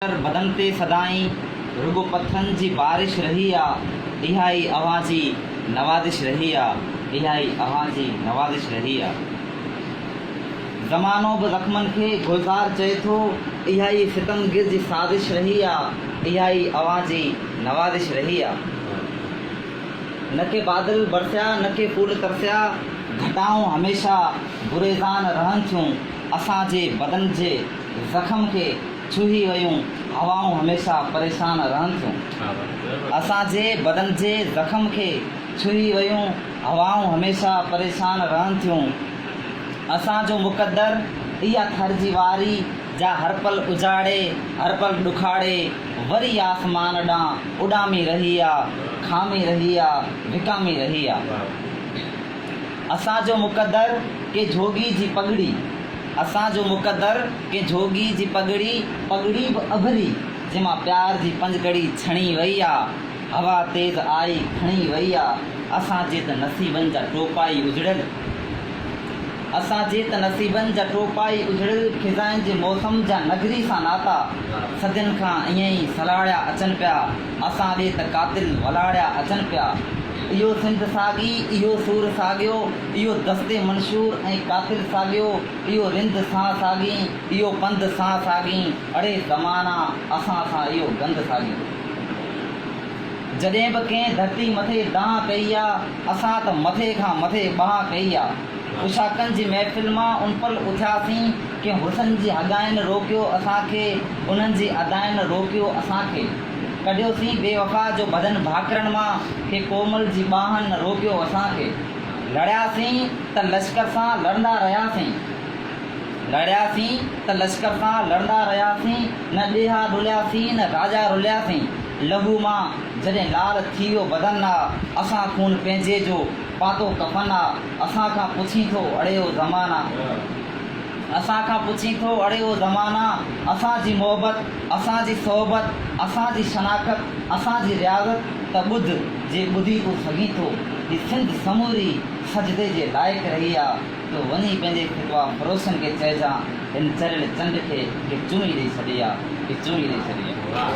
اتر بدن تي سدائين رڳو پٿرن جي بارش رهي آ اها ئي اوهان جي نوازش رهي آ اها ئي اوهان جي نوازش رهي آ زمانو به زخمن کي گلزار چئي ٿو اها ئي ستمگر جي سازش رهي آ اها ئي اوهان جي نوازش رهي آ نه ڪي بادل برسيا نه ڪي پول ترسيا گهٽائون هميشه گريزان رهن ٿيون اسان جي بدن جي زخم کي ڇهي ويون هوائون هميشه پريشان رهن ٿيون. اسان جي بدن جي زخم کي ڇهي ويون هوائون هميشه پريشان رهن ٿيون. اسان جو مقدر اها ٿر جي واري جا هر پل اجاڙي، هر پل ڏکاڙي، وري آسمان ڏانهن اڏامي رهي آ، کامي رهي آ، وڪامي رهي آ. اسان جو مقدر ڪي جھوڳي جي پڳڙي اسان جو مقدر ڪي جھوڳي جي پڳڙي پڳڙي به اڀري جنھن مان پيار جي پنجڪڙي ڇڻي وئي آ ھوا تيز آئي کڻي وئي آ اسان جي ته نصيبن جا ٽوپا ئي اجڙيل اسان جي ته نصيبن جا ٽوپا ئي اجڙيل خزائن جي موسم جا نگري سان ناتا صدين کان ائين ئي سلھاڙيا اچن پيا. اسان ڏي ته قاتل ولاڙيا اچن پيا. اهو سنڌ ساڳي، اهو سور ساڳيو، اهو دست منشور ۽ قاتل ساڳيو، اهو رند سان ساڳين، اهو پنڌ سان ساڳين، اڙي زمانا اسان سان اهو گند ساڳيو. جڏهن به ڪنهن ڌرتي مٿي دانهن ڪئي آ، اسان ته مٿي کان مٿي بانهن ڪئي آ. اشاڪن جي محفل مان ان پل اٿياسين. ڪنهن حسن جي هڳائين روڪيو اسان کي انهن جي ادائين روڪيو اسان کي ڪڍيو سين بي وفا جو بدن ڀاڪرن مان ڪي ڪومل جي ٻانهن روڪيو اسان کي لڙيا سين ته لشڪر سان لڙندا رهيا سين لڙيا سين ته لشڪر سان لڙندا رهيا سين نه ڏيها ڏليا سين نه راڄا رليا سين لهو مان جڏهن لال ٿي ويو بدن آ اسان خون پنهنجي جو پاتو ڪفن آ اسان کان پڇين ٿو اڙيو زمانا. اسان کان پڇين ٿو اڙي او زمانا اسان جي محبت اسان جي صحبت اسان جي شناخت اسان جي رياضت ته ٻڌ جي ٻڌي تون سگهين ٿو هي سنڌ سموري سجدي جي لائق رهي آ تو وڃي پنهنجي فتويٰ فروشن کي چئجان هن چريل چنڊ کي ڪي چمي ڏئي ڇڏي آ ڪي چمي ڏئي ڇڏي آ.